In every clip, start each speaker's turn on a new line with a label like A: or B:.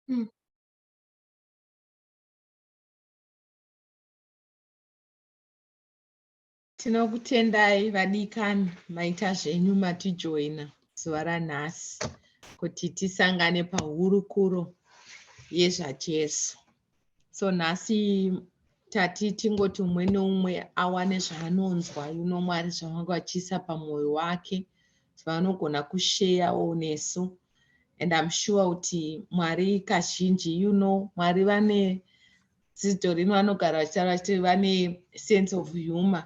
A: Mm. tinokutendai vadikani maita zvenyu matijoina zuva ranhasi kuti tisangane pahurukuro yezvajesu so nhasi tati tingoti umwe neumwe awane zvaanonzwa yuno mwari zvavanga vachiisa pamwoyo wake zvavanogona kusheyawo nesu and im sure kuti mwari kazhinji you know mwari vane dzidzo rino vanogara vachitaura vachiti vane sense of humor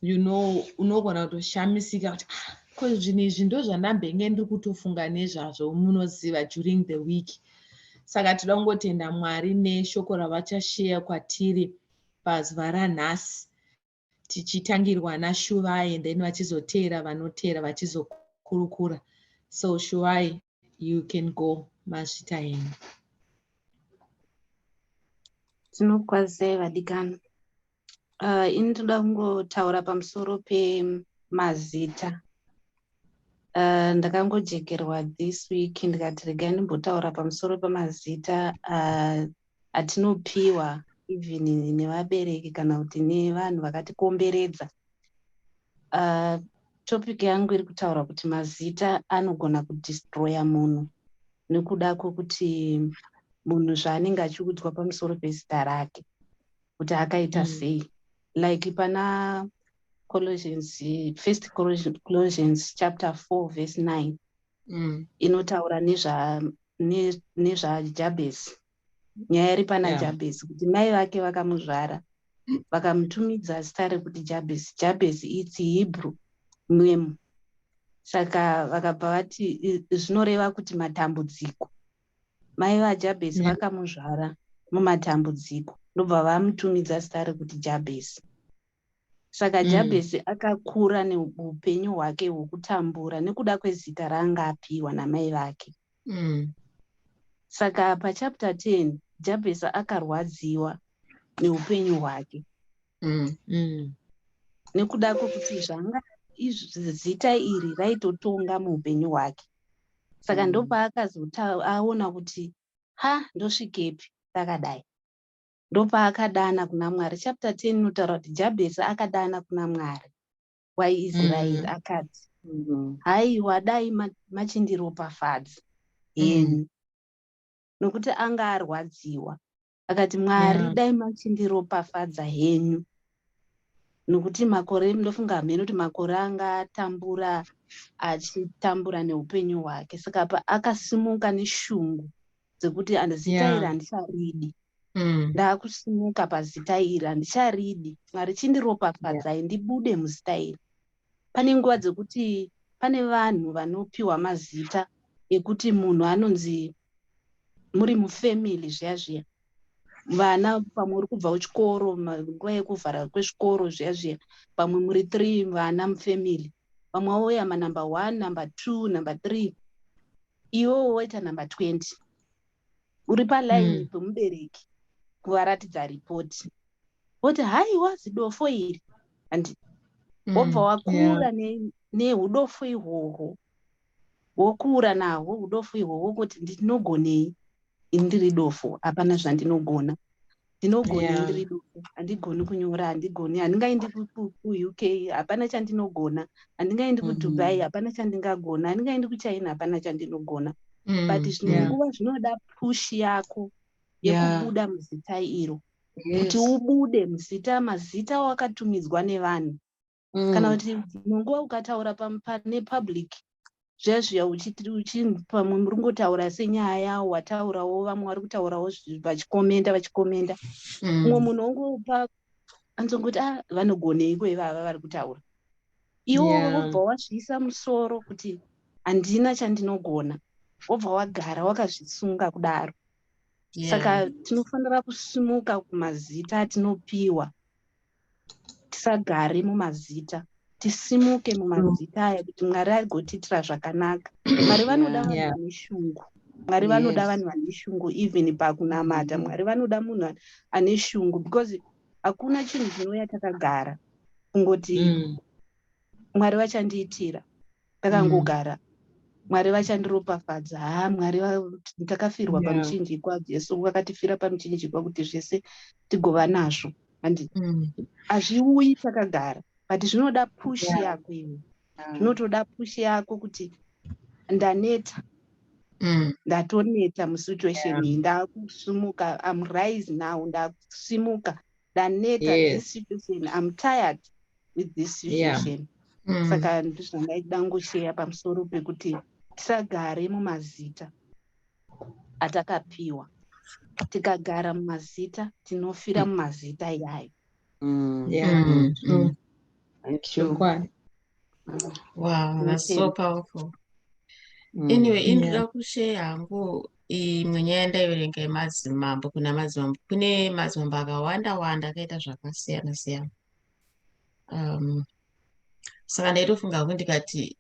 A: you know unogona kutoshamisika kuti ah, ko zvinhu izvi ndo zvandambenge ndiri kutofunga nezvazvo munoziva during the week saka tinoda kungotenda mwari neshoko ravachasheya kwatiri pazuva ranhasi tichitangirwa nashuvai then vachizoteera vanoteera vachizokurukura so shuvai you can go mazvita yenyu
B: tinokwazisai vadikani uh, ini toda kungotaura pamusoro pemazita uh, ndakangojekerwa this week ndikati regai ndimbotaura pamusoro pemazita uh, atinopiwa even nevabereki kana kuti nevanhu vakatikomberedza uh, topic yangu iri kutaura kuti mazita anogona kudistroya munhu nekuda kwekuti munhu zvaanenge achiudzwa pamusoro pezita rake kuti akaita mm. sei like pana colossians first colossians chapter 4 verse 9 mm. inotaura nezvajabhezi nezva nyaya iri pana yeah. jabhezi kuti mai vake vakamuzvara vakamutumidza zita rekuti jabhezi jabhezi its hebrew name saka vakabva vati zvinoreva kuti matambudziko mai vajabhesi yeah. vakamuzvara mumatambudziko ndobva vamutumidza zita rekuti jabhesi Saka mm. Jabhezi akakura neupenyu hwake hwokutambura nekuda kwezita raanga apiwa namai vake. Mm. Saka pachapter 10 Jabhezi akarwadziwa neupenyu hwake. Mm. Mm. Nekuda kwekuti zvanga zita iri raitotonga muupenyu hwake. Saka mm. ndopaakazoaona kuti ha ndosvikepi ndakadai. ndopaakadana kuna mwari chapter 10 inotaura kuti jabhesi akadana kuna mwari waisraeri mm. akati mm. haiwa dai machindiropafadzi heni mm. nokuti anga arwadziwa akati mwari yeah. dai machindiropafadza henyu nokuti makore ndofunga hameno kuti makore anga atambura achitambura neupenyu hwake saka pa akasimuka neshungu dzekuti zita iri handicharidi mm. ndakusimuka pazita iri handicharidi mwari chindiropafadzai ndibude muzita iri pane nguva dzekuti pane vanhu vanopiwa mazita ekuti munhu anonzi muri mufamily zviya zviya vana pamwe uri kubva kuchikoro nguva yekuvhara kwezvikoro zviya zviya pamwe muri three vana mufamily vamwe vauya manumber one number two number three iwewo woita number 20 uri palaini mm. pemubereki kuvaratidza ripoti voti haiwa zidofo iri handi mm, wobva mm, wakura yeah. neudofo ne ihwohwo wokura nahwo udofo ihwohwo kuti ndinogonei ini ndiri dofo hapana zvandinogona ndinogona yeah. ndiri duku handigoni kunyora handigoni handingaendi kuuk hapana chandinogona handingaendi kudubai mm-hmm. hapana chandingagona handingaendi kuchina hapana chandinogona mm, but zvimwe nguva zvinoda push yako yekubuda yeah. muzita iro kuti yes. ubude muzita mazita wakatumidzwa nevanhu mm. kana kuti dzimwe nguva ukataura pane public zviya zviya pamwe muri kungotaura senyaya yawo wataurawo vamwe vari kutaurawo vachikomenda vachikomenda mm. umwe munhu ongopa anzongoti a ah, vanogoneiko ivava vari kutaura iwo wobva wazviisa musoro kuti handina chandinogona wobva wagara wakazvisunga kudaro saka tinofanira kusimuka kumazita atinopiwa tisagare mumazita tisimuke mumazita aya kuti mwari agotiitira zvakanaka mwari vanoda vanhu vane shungu mwari vanoda vanhu vane shungu even pakunamata mwari vanoda munhu ane shungu because hakuna chinhu chinouya takagara kungoti mm. mwari vachandiitira ndakangogara mwari vachandiropafadza ha mwari takafirwa yeah. pamuchinjikwa jesu vakatifira pamuchinjikwa kuti zvese tigova nazvo handi mm. hazviuyi mm. takagara but zvinoda pushi yeah. yako iwe zvinotoda yeah. pushi yako kuti ndaneta mm. ndatoneta musituation yeah. iyi ndakusimuka am rise now ndakusimuka ndaneta yes. this situation am tired with this situation yeah. mm. saka ndizvandaida ngosheya pamusoro pekuti tisagare mumazita atakapiwa tikagara mumazita tinofira mm. mumazita iyayo
C: mm. yeah. mm.
D: mm. thank you wow that's so powerful mm. anyway indira yeah. kusheya hangu imwe nyaya ndaiverenga yemadzimambo kuna madzimambo kune madzimambo akawanda wanda akaita zvakasiyana siyana um, saka ndaitofunga kuti ndikati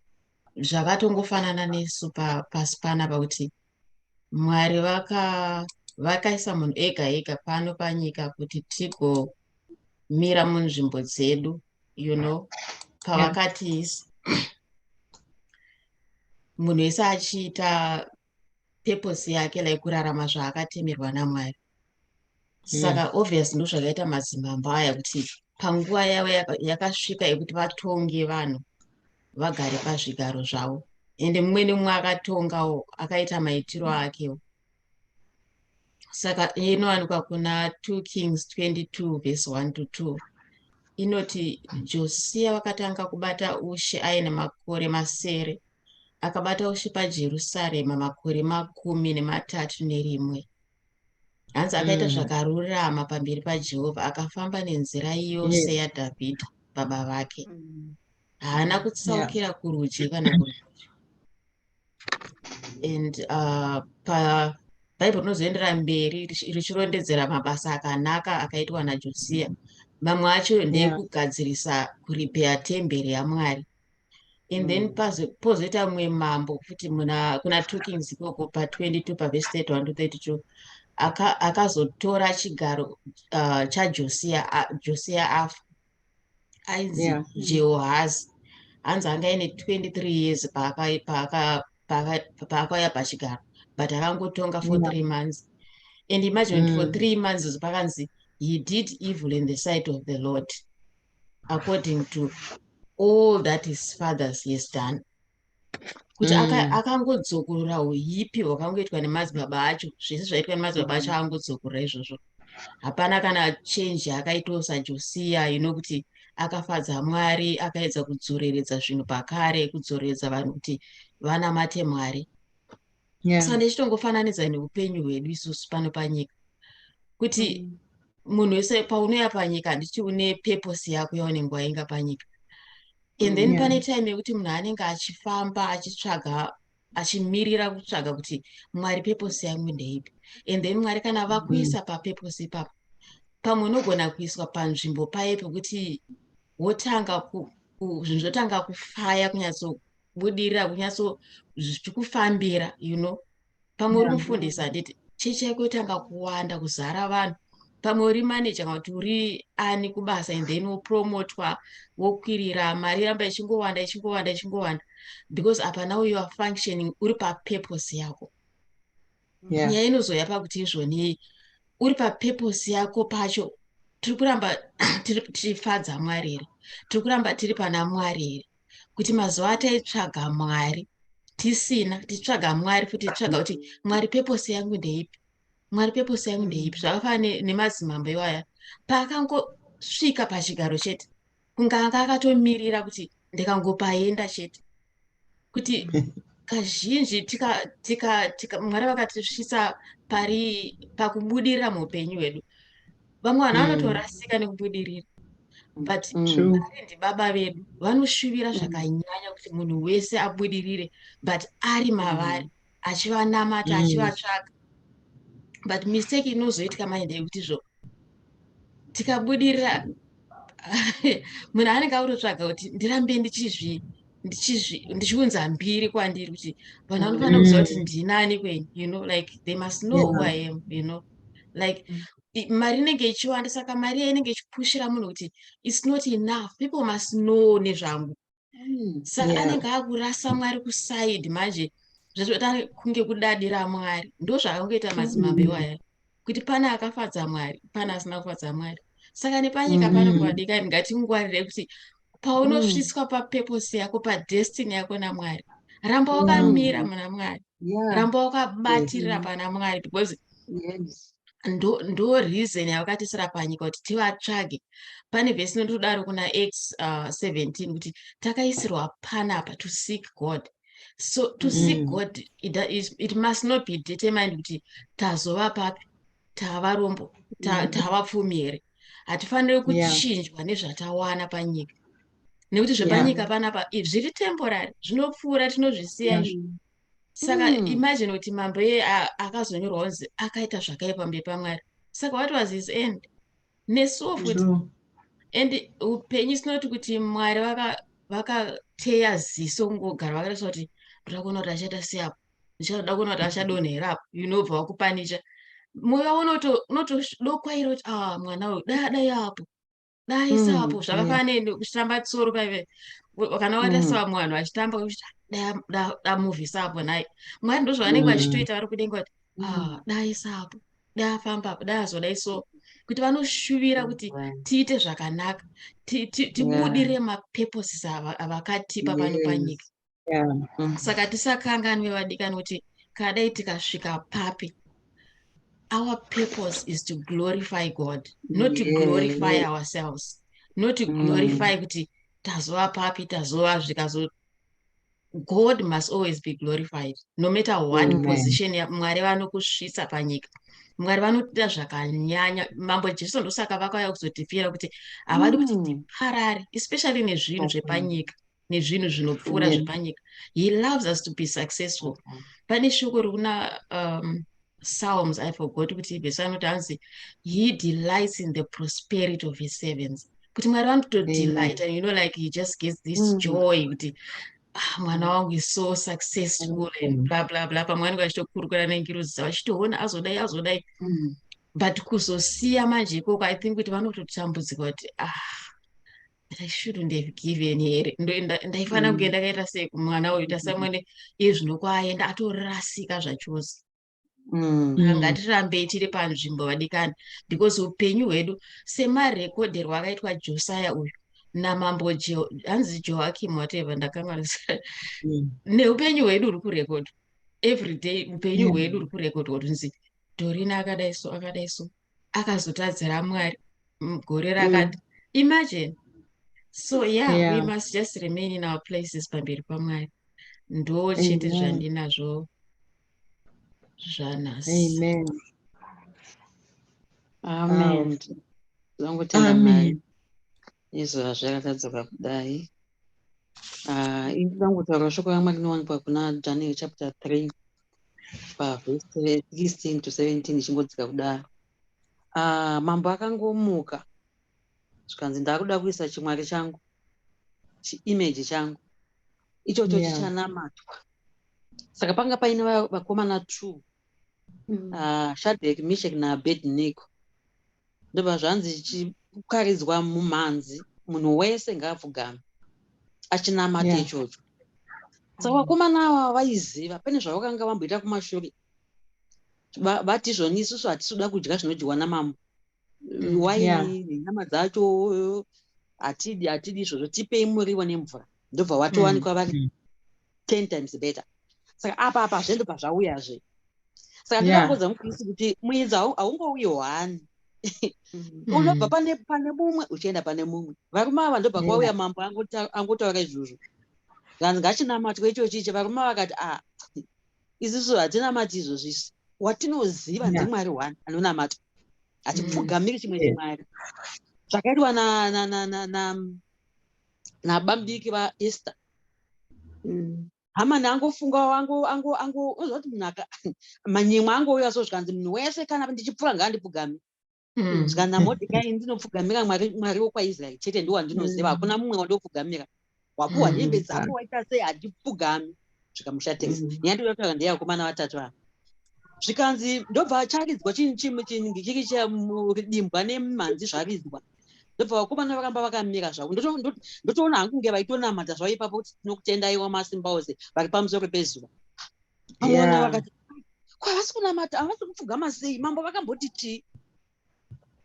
D: zvakatongofanana nesu pasi pana pakuti mwari vaka vakaisa munhu ega ega pano panyika kuti tigomira munzvimbo dzedu you know pavakatiisa munhu wese achiita purpose yake like kurarama zvaakatemerwa namwari saka mm. obvious ndozvakaita madzimambo aya kuti panguva yavo yakasvika yekuti vatonge vanhu vagare pazvigaro zvavo ende mumwe nemumwe akatongawo akaita maitiro akewo saka inowanikwa kuna 2 kings 22 vese 1 to 2 inoti josiya vakatanga kubata ushe aine makore masere akabata ushe pajerusarema makore makumi nematatu nerimwe hanzi akaita mm. zvakarurama pamberi pajehovha akafamba nenzira yose yes. yadhavhidha baba vake mm. haana kutsaukira yeah. kurudyi kana kurudyi and uh, pa bhaibheri rinozoendera mberi richirondedzera mabasa akanaka akaitwa najosia mamwe acho ndeekugadzirisa kuripeya temberi yamwari and then mm. pazo pozoita mumwe mambo futi muna kuna two kings ikoko pa 22 pa verse 31 to 32 akazotora aka chigaro uh, chajosia uh, josia afa ainzi yeah. jehohazi hanzi anga ine 23 years paakauya paaka, paaka, paaka pachigaro but akangotonga for yeah. three months and imagine mm. for three months pakanzi he did evil in the sight of the lord according to all that his fathers has done kuti mm. akangodzokorora aka uipi hwakangoitwa nemadzibaba acho zvese zvaitwa nemadzibaba acho mm. akangodzokorora izvozvo hapana kana change akaitawo sajosiya ino know, kuti akafadza mwari akaedza kudzoreredza zvinhu pakare kudzoreredza vanhu kuti vanamate mwari yeah. saka ndichitongofananidza neupenyu hwedu isusu pano panyika kuti mm. munhu wese paunouya panyika handiti une purpose yako yaunenge wainga panyika and then mm, pane time yekuti munhu anenge achifamba achitsvaga achimirira kutsvaga kuti mwari purpose yangu ndeipi and then mwari kana mm. vakuisa mm. papurpose ipapo pamwe unogona kuiswa panzvimbo paye pekuti wotanga zvinhu zvotanga kufaya kunyatso budirira kunyatso zvichikufambira you know pamwe uri mufundisi handiti chechi yako yotanga kuwanda kuzara vanhu pamwe uri maneja kana kuti uri ani kubasa and then wopromotwa wokwirira mari iramba ichingowanda ichingowanda ichingowanda because apa now you are functioning uri papurpose yako nyaya yeah. inozouya pakuti izvoni uri papurpose yako pacho tiri kuramba tifadza mwari here tiri kuramba tiri pana mwari here kuti mazuva ataitsvaga mwari tisina titsvaga mwari futi titsvaga kuti mwari pepose yangu ndeipi mwari pepose yangu ndeipi zvakafana nemadzimambo iwaya paakangosvika pachigaro chete kunga anga akatomirira kuti ndikangopaenda chete kuti kazhinji mwari vakatisvisa pari pakubudirira muupenyu hwedu vamwe vanhu mm. vanotorasika nekubudirira but mm. arendi baba vedu vanoshuvira mm. zvakanyanya kuti munhu wese abudirire but ari mavari achivanamata achivatsvaga but mistake inozoitika mai ndeyekuti zvo tikabudirira munhu anenge akutotsvaga kuti ndirambe ndichizvi ndichiunza mbiri kwandiri kuti vanhu vanofanira kuziva kuti ndinani kweni you know like they must know who i am you know like mm. mari inenge ichiwanda saka mari iya inenge ichipushira munhu kuti its not enough people must know nezvangu hmm, saka anenge akurasa mwari kuside manje zvazoita kunge kudadira mwari ndo zvaakangoita madzimambe iwaya hmm. kuti pane akafadza mwari pane asina kufadza mwari saka nepanyika pano hmm. kwadikani ngatingwarire kuti paunosvitswa mm. papurpose yako padestiny yako namwari ramba mm. wakamira mm. muna mwari yeah. ramba wakabatirira yeah. pana mwari because yes. ndo, ndo reason yavakatisira panyika kuti tivatsvage pane vhesi inotodaro kuna x uh, 17 kuti takaisirwa panapa to seek god so to mm. seek god it, is, it must not be determined kuti tazova papi tava rombo mm. tava pfumi here hatifaniri kuchinjwa yeah. nezvatawana panyika nekuti zvepanyika yeah. panapa zviri temporary zvinopfuura tinozvisiya izvo yeah. saka mm. imagine kuti mambo iye akazonyorwa kunzi akaita zvakaipa mberi pamwari saka what was his end nesuwo futi and upenyu sinoti kuti mwari vakateya ziso kungogara vakatarisa kuti ndoda kuona kuti achaita seapo ndichada kuona kuti achadonha here apo unobva wakupanicha moyo wavo unotodokwaira kuti a ah, mwana uyu dai adai apo dai mm, saapo zvakafana nekutamba tsoro paive kana wata mm. savamwe vanhu vachitamba damuvi saapo nhai mwari ndozvavanenge mm. vachitoita vari kudenga kuti a ah, dai saapo dai afamba apo dai azodai so kuti vanoshuvira kuti tiite zvakanaka tibudirire mapurposes avakatipa pano panyika yeah. Mm. saka tisakanganwe vadikani kuti kadai tikasvika papi our purpose is to glorify god not to glorify yeah. ourselves not to mm. glorify mm. kuti tazova papi tazova zvikazo god must always be glorified no matter what mm. position mwari vanokusvitsa panyika mwari vanotiita zvakanyanya mambo jesu ndosaka vakauya kuzotifira kuti havadi kuti mm. tiparare especially nezvinhu zvepanyika nezvinhu zvinopfuura mm. zvepanyika he loves us to be successful mm. pane shoko rikuna um, psalms i forgot kuti vese anoti anzi he delights in the prosperity of his servants kuti mwari vanotodelight mm. and you know like he just gets this mm. joy kuti ah, mwana wangu is so successful mm. and bla bla bla pamwe anenge achitokurukura nengiruzi dzavo achitoona azodai azodai mm. but kuzosiya manje ikoko i think kuti vanototambudzika kuti ah i shouldn't have given here ndaifanira mm. kunge ndakaita sei kumwana uyu tasamwene mm-hmm. iye zvino kwaayenda atorasika zvachose mm. ah, ngatirambei tiri panzvimbo vadikani because upenyu hwedu semarekodherwo akaitwa josiah uyu namambo hanzi joakim whatever ndakanga mm. neupenyu hwedu uri kurekodha every day upenyu hwedu uri kurekodha kuti nzi dorina akadai so akadai so akazotadzira mwari gore mm. rakati mm. imagine so yeah, yeah we must just remain in our places pamberi pamwari ndo chete zvandinazvo zvanhasi amen
C: amen zvangu tenda mwari Izvo hazvirakadzoka kudai. Ah, ini ndangotaura shoko ramwari rinowanikwa kuna daniel chapter 3 pavhesi 16 to 17 ichingodzika kudaro ah, mambo akangomuka zvikanzi ndakuda kuisa chimwari changu chiimeji changu ichocho chichanamatwa saka panga paine vakomana two mm. ah, shadhek mishek naabednigo ndobva zvanzi chikaridzwa mumhanzi munhu wese ngaapfugame achinamata yeah. ichocho saka mm. vakomana ava vaiziva pane zvavakanga vamboita kumashure vati izvoni isusu hatisi kuda kudya zvinodyiwa namambo mm, why nenyama yeah. dzacho hatidi hatidi izvozvo tipei muriwo nemvura ndobva watowanikwa mm. vari mm. ten times better saka apa apa zve ndobva zvauyazve saka ndinokuudza mukristu kuti muedzi haungouyi hwani mm. unobva pane pane mumwe uchienda pane mumwe varume ava ndobva kwauya mambo angotaura izvozvo vanhu ngachinamatwe ichochichi varume vakati a ah, isusu hatinamati izvozvo isu watinoziva ndimwari one anonamatwa hatipfugamiri mm. chimwe chimwari zvakaitwa nabambiki vaester mm. hamani angofunga angoziva kuti munhu manyimwa angouya so zvikanzi munhu wese kana ndichipfuura ngaandipfugami Mm. Saka naMordecai ndinopfugamira Mwari, Mwari wokwaIsraeri chete ndiwo wandinoziva, hakuna mm. mumwe wandinopfugamira. Wapuwa mm. hembe dzako waita sei handipfugami. Zvikamushatisa. Nyaya ndinotaura ndeyakomana vatatu ava. Zvikanzi ndobva charidzwa chinhu chimwe chinhu chiri chiridimbwa nemhanzi zvaridzwa. Ndobva vakomana varamba vakamira zvavo. Ndotoona hangu kunge vaitonamata zvavo ipapo kuti tinokutendaiwa masimba ose vari pamusoro pezuva. amona vakati kwavasi kunamata havasi kupfugama sei mambo vakamboti tii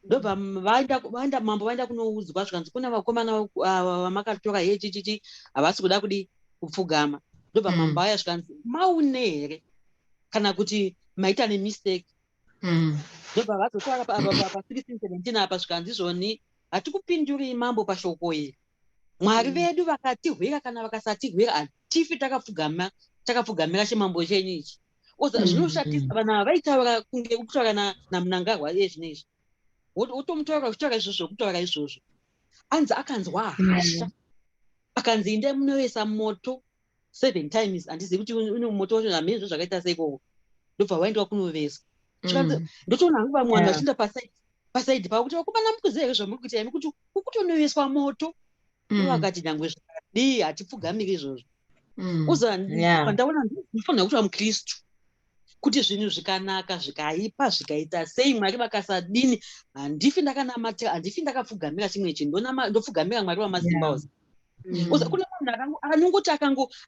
C: ndobva vaenda mambo vaenda kunoudzwa zvikanzi kune vakomana vamakatora hee chichichi havasi kuda kudi kupfugama ndobva mm. mambo aya zvikanzi maune here kana kuti maita nemistake mm. ndobva vazotara pa 1617 apa zvikanzi izvoni hatikupinduri mambo pashoko iri mwari mm. vedu vakatihwira kana vakasatihwira hatifi takapfugama takapfugamira chimambo chenyu ichi oza mm, zvinoshatisa mm. vanhu ava vaitaura kunge kutaura namunangarwa iye zvino izvi wotomutaura uchitaura izvozvo zvokutaura izvozvo anzi akanzwa hasha akanzi inde munoyesa moto seven times handizivi kuti une moto wacho hamene zvo zvakaita seikoko ndobva waendwa kunoveswa mm. ndotoona hangu vamwe vanhu vachiinda pasaidi pasaidi pavo kuti vakomana mukuziva here zvamuri kuita imi kuti kukutonoveswa moto mm. ivakati nyangwe zvadii hatipfugamiri izvozvo mm. uzandaona ndifanira kuti vamukristu kuti zvinhu zvikanaka zvikaipa zvikaita sei mwari vakasadini handifi ndakanamata handifi ndakapfugamira chimwe chinhu ndopfugamira mwari wamasimba yeah. Mm. kune munhu anongoti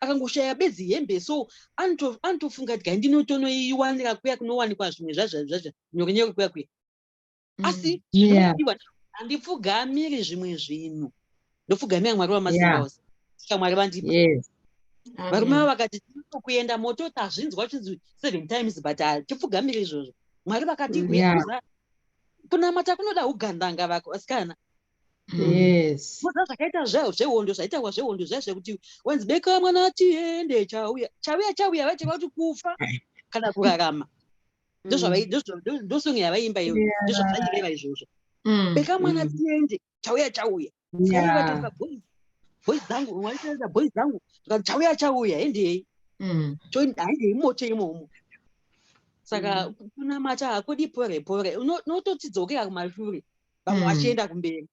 C: akangoshaya bedzi hembe so anotofunga kuti gai ndinotonoiwanira kuya kunowanikwa zvimwe zvazvazvazva nyokenyoko kuya kuya mm. asi zvinoiwa handipfugamiri zvimwe zvinhu ndopfugamira mwari wamasimba ose saka mwari vandipa varume vavo vakati tinokuenda moto tazvinzwa chinzi seven times but hatipfugamiri izvozvo mwari vakati kunamata kunoda ugandanga vako asikana kuza zvakaita zvehondo zvaitawa zvehondo zvaye zvekuti wanzi beka mwana tiende chauya chauya chauya vaiteva kuti kufa kana kurarama ndosong yavaiimba iyo ndozvazvaireva izvozvo mm. beka mwana mm. tiende chauya chauya boys dzangu waitaita boys dzangu zvikati chauya chauya hendei mm. choendei moto imomo saka kunamata hakudi pore pore unototidzokera kumashure vamwe mm. vachienda mm. kumberi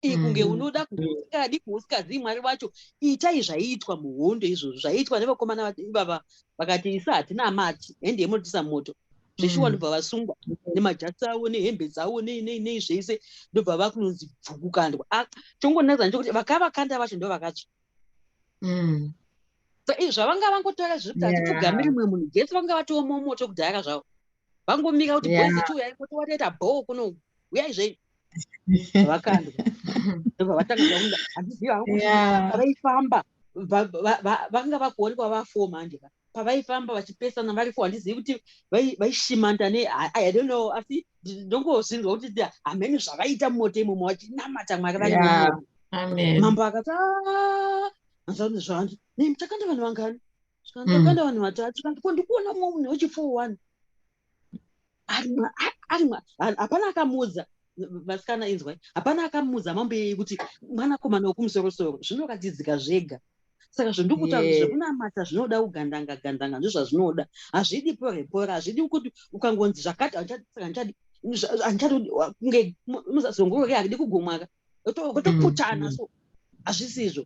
C: ii kunge mm. unoda kuusikadi kuusikazii mwari wacho itai zvaiitwa muhondo izvozvo zvaiitwa nevakomana ivava vakati isu hatina mati hende yemunotisa moto zveshuwa mm. ndobva vasungwa nemajasi avo nehembe dzavo nei zvese ndobva vakunonzi bvukukandwa ah, chongonakidza ndechokuti vakavakanda vacho ndo vakatsva mm. so izvi zvavanga vangotaura zviri kuti hatipfugamiri mwe munhu jese vanga vatoomomoto kudhayaka zvavo vangomira kuti boys yeah. chiuyai kuti watoita bho kuno uyai zvenyu vakandwa ndobva vatanga zvaunda handiziva hangu pavaifamba vanga vakuonekwa vafo manje pavaifamba vachipesana vari fo handizivi kuti vaishimanta ne i don't know asi ndongozvinzwa kuti hamene zvavaita mumoto imomo vachinamata mwari vari mambo akati ah! anzvanzi zvanzi ne muchakanda vanhu vangani zvikanzokanda mm. vanhu vatatu kanti ko ndikuona mumwe munhu wechifour one arimwa hapana akamuudza vasikana inzwai hapana akamuudza mambeyei kuti mwanakomana wekumusorosoro zvinoratidzika zvega saka zvandikuta zvekunamata zvinoda kugandanga gandanga ndozvazvinoda hazvidi porepora hazvidi kuti ukangonzi zvakati handichadi handichadi kunge muzazongorori handidi kugomwaka otoputana mm, mm. so hazvisizvo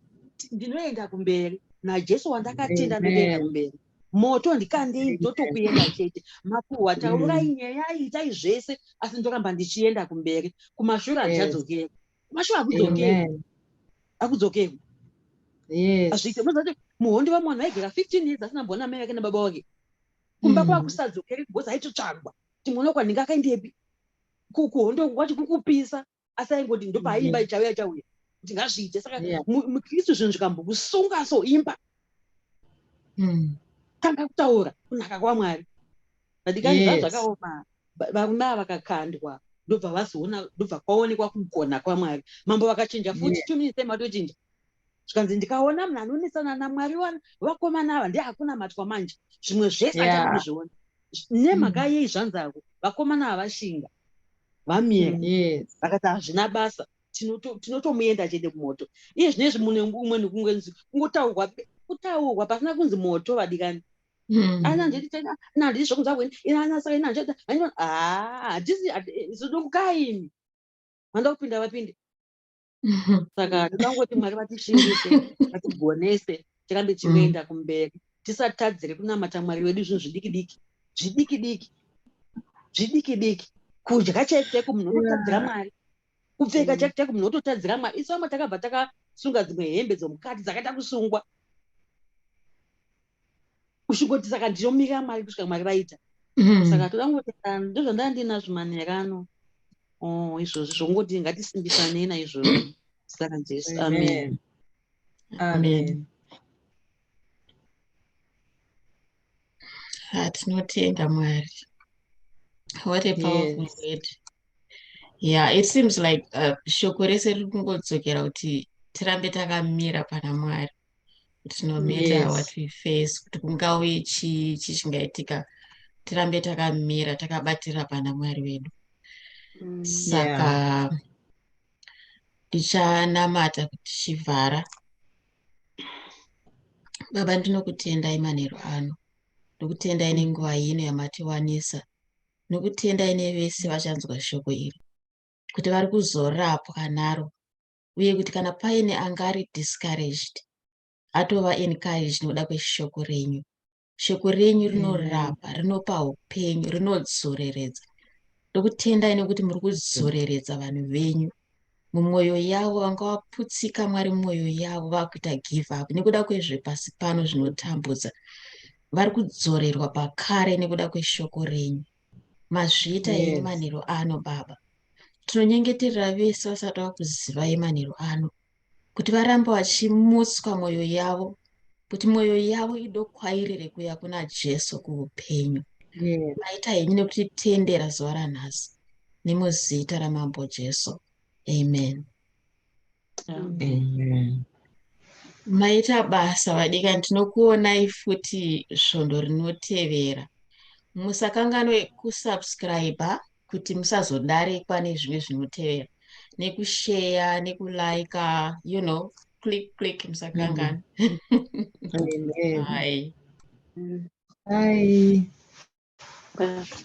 C: ndinoenda kumberi najesu wandakatenda ndotoenda kumberi moto ndikandei ndotokuenda chete makuhwa taurai mm. nyaya itai zvese asi ndoramba ndichienda kumberi kumashure handichadzokeri kumashure akudzokeri akudzokeri azviite mozati muhondi vamwana vaigera fifteen years asina mbona mai vake nababa wake kumba mm. kwakusadzokeri because aitotsvagwa timwona kwandinga akaendepi kuhondo kwacho kukupisa asi aingoti ndopaaimba ichauya chauya kuti ngazviite saka mukristu zvinhu zvikambokusunga so imba hmm. tanga kutaura kunaka kwamwari vadikai zva zvakaoma varume ava vakakandwa ndobva vazoona ndobva kwaonekwa kugona kwamwari mambo vakachinja futi two minutes time vatochinja zvikanzi ndikaona munhu anonesana namwari wani vakomana ava ndi hakuna matwa manje zvimwe zvese achakuizviona nemhaka mm. yei zvanzi ako vakomana ava vashinga vamira yes. vakati hazvina basa tinotomuenda chete kumoto iye zvine izvi mune umwe nekungenzi kungotaurwa kutaurwa pasina kunzi moto vadikani hmm. ananditi zvokunza kweni inanasakainanzvatizodokukaini vanoda kupinda vapinde saka ndinangoti mwari vatishingise vatigonese tirambe tichienda mm. kumberi tisatadzire kunamata mwari wedu zvinhu zvidiki diki zvidiki diki zvidiki diki kudya chaiko chaiko munhu unotadzira mwari kupfeka chaiko chaiko munhu ototadzira mwari isu vamwe takabva takasunga dzimwe hembe dzomukati dzakaita kusungwa kusvikoti saka ndinomira mwari kusvika mwari vaita mm-hmm. saka toda kungoti ah, ndozvandava ndinazvo manera ano oh, izvozvi zvongoti ngatisimbisanei naizvozvi saka jesu amen
A: amen
D: ah, tinotenda mwari what a powerful word
A: yeah
D: it seems like uh, shoko rese riri kungodzokera kuti tirambe takamira pana mwari it's no matter yes. what we face
A: kuti
D: kungauye chii chii chingaitika tirambe takamira takabatira pana mwari wedu mm, saka ndichanamata yeah. kuti chivhara baba ndinokutendai manheru ano ndokutendai nenguva yino yamatiwanisa nokutendai nevese vachanzwa shoko iri kuti vari kuzorapwa naro uye kuti kana paine anga ari discouraged atova encouraged nokuda kweshoko renyu shoko renyu rinorapa rinopa upenyu rinodzoreredza ndokutendai nekuti muri kudzoreredza vanhu venyu mumwoyo yavo vanga vaputsika mwari mwoyo yavo vakuita give up nekuda kwezvepasi pano zvinotambudza vari kudzorerwa pakare nekuda kweshoko renyu mazviita here yes. manheru ano baba tinonyengeterera vese vasati vakuziva yemanheru ano kuti varambe vachimutswa mwoyo yavo kuti mwoyo yavo idokwairire kuya kuna jesu kuupenyu yes. maita henyu nekuti tendera zuva ranhasi nemuzita ramambo jesu amen
A: Amen. Maita
D: basa vadikani tinokuonai futi svondo rinotevera. Musakanganwe kusubscriber kuti musazodarikwa nezvimwe zvinotevera nekusheya nekulaika you know click click musakanganwe. Amen. Bye. Bye. Bye.